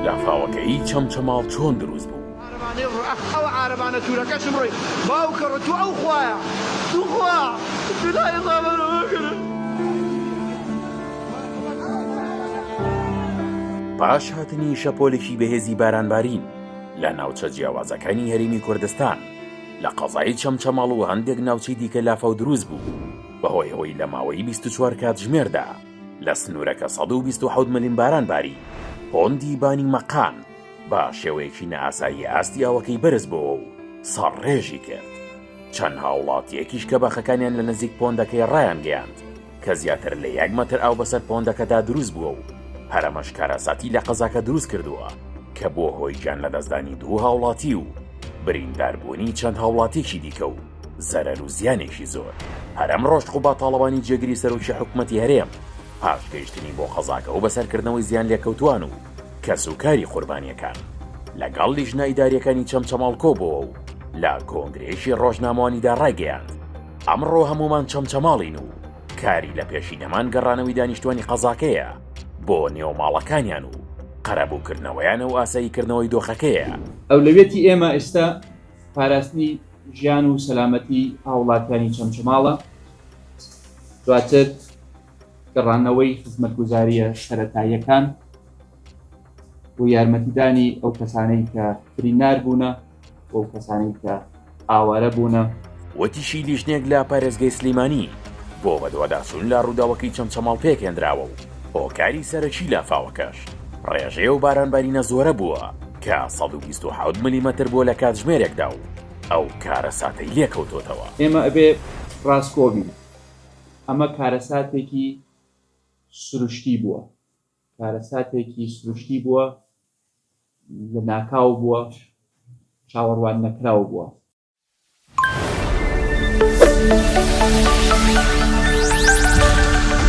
لافاوەکەیی چەمچەماڵ چۆن دروست بوو؟ عارەبانەی ڕووی ئەخ ئەوە عارەبانە تورەکەشم ڕووی باوکە ڕووی تو ئەو خوایە توخوا جولای ڕا بەرە بکرە. پاش هاتنی شەپۆلێکی بەهێزی بارانبارین لە ناوچە جیاوازەکانی هەرێمی کوردستان لە قەزای چەمچەماڵ و هەندێک ناوچەی دیکە لافاو دروست بوو بەهۆی ئەوەی لە ماوەی بیست و چوار کاتژمێردا لە سنوورەکە سەد و بیست و حەوت ملم باران باری، پۆندی بانی مەقان بە شێوەیەکی نائاسایی ئاستی ئاوەکەی بەرز بۆوە و سەڕڕێژی کرد. چەند هاووڵاتییەکیش کە باخەکانیان لە نزیک پۆندەکەیە ڕایانگەیاند کە زیاتر لە یەک مەتر ئاو بەسەر پۆندەکەدا دروست بووە و هەرەمەش کارەساتی لە قەزاکە دروست کردووە کە بووە هۆی گیانلەدەستدانی دوو هاوڵاتی و برینداربوونی چەند هاوڵاتییەکی دیکە و زەرەر و زیانێکی زۆر هەر ئەمڕۆش قوباد تاڵەبانی جێگری سەرۆکی حکوومەتی هەرێم پاش گەیشتنی بۆ قەزاکە و بەسەرکردنەوەی زیانلێکەوتووان و کەسوکاری قوربانییەکان لەگەڵ لیژنە ئیدارییەکانی چەمچەماڵ کۆبووەوە و لە کۆنگرەیەکی ڕۆژنامەوانیدا ڕایگەیاند ئەمڕۆ هەموومان چەمچەماڵین و کاری لە پێشینەمان گەڕانەوەی دانیشتوانی قەزاکەیە بۆ نێو ماڵەکانیان و قەرەبووکردنەوەیانە و ئاساییکردنەوەی دۆخەکەیە. ئەولەویەتی ئێمە ئێستا پاراستنی ژیان و سەلامەتی هاوڵاتیانی چەمچەماڵە دواتر گەڕانەوەی خزمەتگوزاریە سەرەتاییەکان و یارمەتیدانی ئەو کەسانەی کە برینار بوونە و ئەو کەسانەی کە ئاوارە بوونە. وتیشی لیژنەیەک لە پارێزگەی سلیمانی بۆ بەدواداچوون لە رووداوەکەی چەمچەماڵ پێکهێندراوە و هۆکاری سەرەکی لافاوەکەش ڕێژەی ئەو بارانبارینە زۆرە بووە کە سەد و بیست و حەوت ملیمەتر بووە لە کاتژمێرێکدا و ئەو کارەساتەی لێکەوتۆتەوە. ئێمە ئەبێ ڕاستگۆ بین، ئەمە کارەساتێکی سروشتی بووە، کارەساتێکی سروشتی بووە، لەناکاو بووە، چاوەڕوان نەکراو بووە.